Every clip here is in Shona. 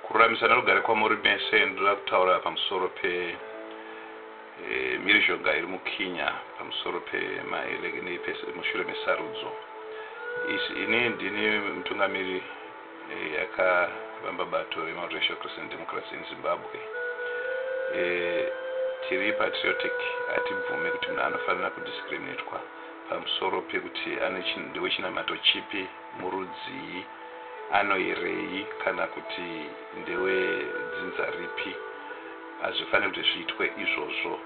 Kururamisana rugare kwamuri mese ndoda kutaura pamusoro pe mhirizhonga iri muKenya pamusoro pemaelekeni mushure mesarudzo izi. Ini ndini mutungamiri yakavamba bato reMultiracial Christian Democrats in Zimbabwe. E, tiri patriotic, hatibvume kuti munhu anofanira kudiscriminatwa pamusoro pekuti ane ndewechinamato chipi. murudzii, anoerei kana kuti ndewe dzinza ripi. Hazvifaniri kuti zviitwe izvozvo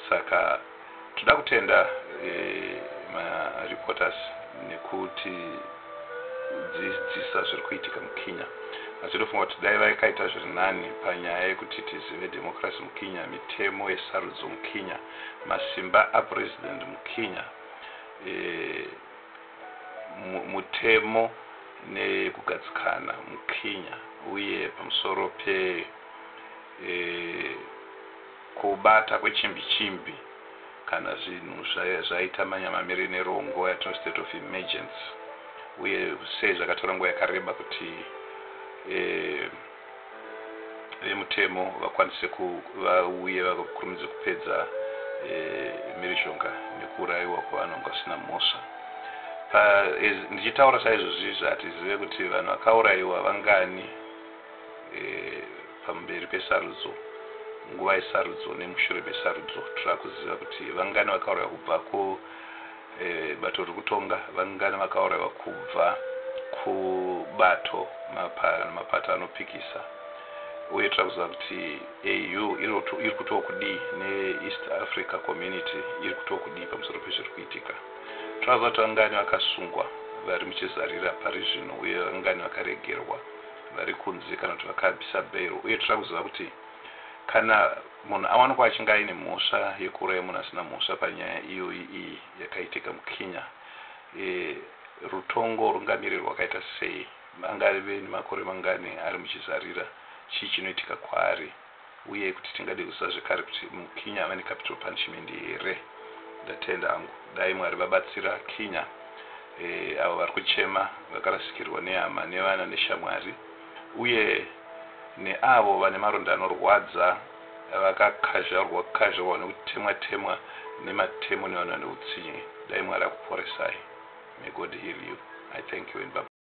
saka toda kutenda ma reporters nekuti dzidzisa zviri kuitika muKenya asi ndofunga kuti dai vakaita zviri nani panyaya yekuti tizive democracy muKenya, mitemo yesarudzo muKenya, masimba apresident muKenya e, mutemo nekugadzikana muKenya uye pamusoro pekubata kwechimbi chimbi kana zvinhu zvaita manyamamire nero nguva yatino state of emergency uye sei zvakatora nguva yakareba kuti vemutemo vakwanise vauye vakurumidze kupedza e, mhirizhonga nekuurayiwa kwevanhu vanga vasina mhosva ndichitaura saizvozvi zvatizive kuti vanhu vakaurayiwa vangani e, pamberi pesarudzo nguva yesarudzo nemushure mesarudzo tira kuziva kuti vangani vakaurayiwa kubva ku Bato ririkutonga vangani vakaurayiwa kubva kubato mapato anopikisa uye toda kuziva kuti AU irikutokudii ne East Africa Community irikutokudii pamusoro pezvirikuitika. Toda kuziva kuti vangani vakasungwa vari muchizarira parizvino uye vangani vakaregerwa varikunze kana kuti vakabisa bail uye toda kuziva kuti Kana munhu awanikwa achinge aine mhosva yekuuraya munhu asina mhosva panyaya iyoyi iyi yakaitika muKenya, rutongo rungamire rwakaita sei, angave nemakore mangani ari muchizarira, chii chinoitika kwaari uye kuti tingade kuziva zvekare kuti muKenya ava necapital punishment here? Ndatenda hangu. Dai Mwari vabatsira Kenya avo vari kuchema vakarasikirwa nehama nevana neshamwari. uye neavo vane maronda anorwadza vakakazharwa kazharwa nekutemwa temwa nematemo nevanhu vane utsinye dai Mwari akuporesai may God heal you I thank you and bye bye.